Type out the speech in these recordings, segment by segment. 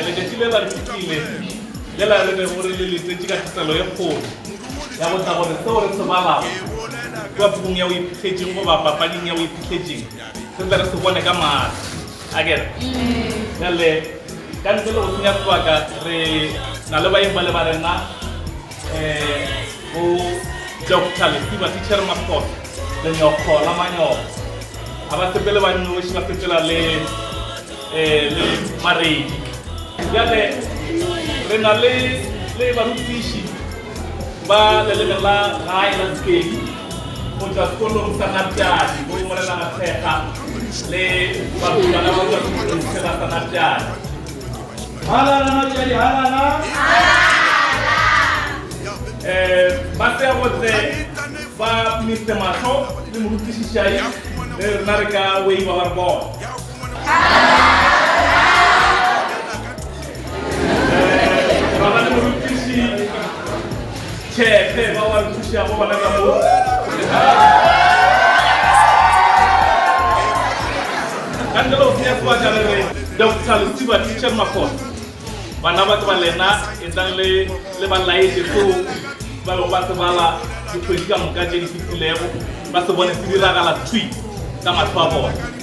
Letšatši le la re fetile le la re bego re le letsetše ka thapelo ye kgolo ya go tla gore seo re se balago kua pukung ya Boiphihletseng goba papading ya Boiphihletseng re tle re se bone ka mahlo. A ke re? Bjale, ka ntle le go senya sebaka, re na le baeng bale ba rena. bo Doctor Lesiba, Tichere Mafosa, Lenyokgo la Manyoko. Ga ba sepele ba nnoši, ba sepela le le Maredi. Bjale re na le le barutiši ba leleme la gae la Sepedi go tšwa sekolong sa Napiadi bo Morena Mathekga le barutwana ba Bokatumotse ba sa Napiadi. Halala machadi halala. Eh, ba se gotse ba Mister Mahlo le morutiši Shai le rena re ka waiva ba re bona. Eh, baba le morutiši Tjheehe, ba ba nthušago bona ka mo. Kantoro ofisi ya sebaka re re Doctor Letiba Teacher Makgona. Bana ba ke ba lena e tlang le le ba laetše seo ba bego ba se bala dikgwedi ka moka tše di fetilego ba se bone se diragala thwi ka mahlo a bona.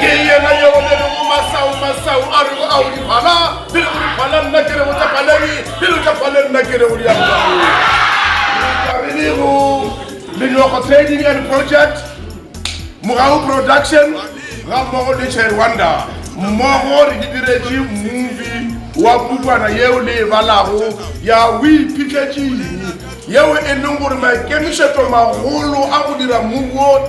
ke yena yeo le rego masau masau a rego ao diphala di rego diphala nna ke rego tša phaleng di rego tša phaleng nna ke rego diarenego menyoko trading and project mogau production ga mmogo le chairwanda mmogo re di diretše mmovi wa pukwana yeo le e balago ya o iphitlhetšeng yeo e leng gore maikemišetšo magolo a go dira mmuo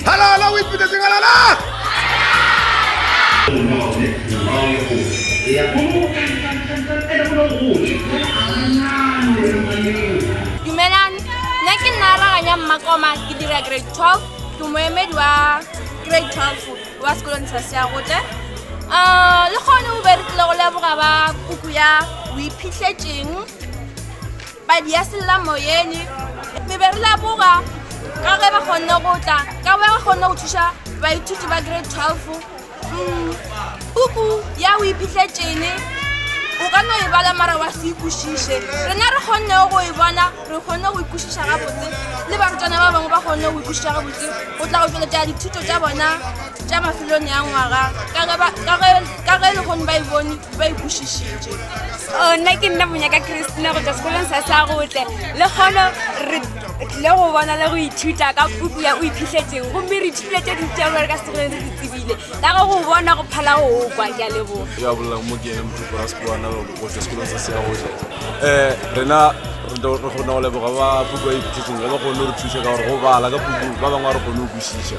Halala o ipitetse halala. Dumelang, nna ke nna raganya mmakoma ke dira grade 12 ke moemedi wa grade 12 wa sekolong sa seagotle um eh, le kgone o be re tlile go leboga ba puku ya o iphitlhetseng Padi ya sellamoyeni, re be re laboga ka ge ba kgonne go tla ka ba ba kgonne go thuša baithuti ba grade 12 mm, puku ya o iphitlhetšene o ka no e bala mara wa se ikwešiše rena re kgonnego go e bona re kgonne go ikwešiša gabotse le barutwana ba bangwe ba kgonne go ikwešiša gabotse go tla go tšweletša dithuto tša bona tša mafelong ya ngwaga ka ge e le kgone ba e bone ba ikwešišitše ona ke nna monyaka christina go tswa sekolong sa sa gotle le kgono re tlile go bona le go ithuta ka puku ya o iphitlhetseng gomme re ithutile tse dintsi tsa gore ka sekolong se se tsebile ka go go bona go phala go o kwa ke a leboga ya bolelang mo ke ene motlhoko ra sekoana go tswa sekolong sa sa gotle um rena re kgona go leboga ba puku ya iphitlhetseng ga ba kgone go re thusa ka gore go bala ka puku ba bangwe ga re kgone go kwešiša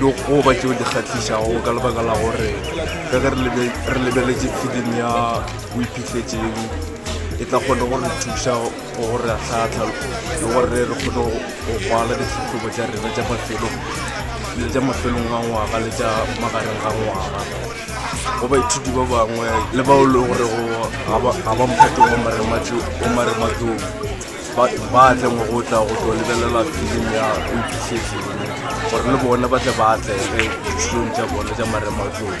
le go ba tšeo di kgahlišago ka lebaka la gore ka ge re lebeletše film ya o iphitlhetseng e tla kgone go re thuša gore a tlhatlha le gore re kgone go kwala ditlhahlobo tša rena tša mafelo le tša mafelong a ngwaga le tša magareng ga ngwaga go baithuti ba bangwe le bao le gore ga ba mphatong wa marematlong batho ba tle mo go tla go tlo lebelela film ya oitisese eno gore le bone ba tle ba atlege ditshong tša bone tša marematlong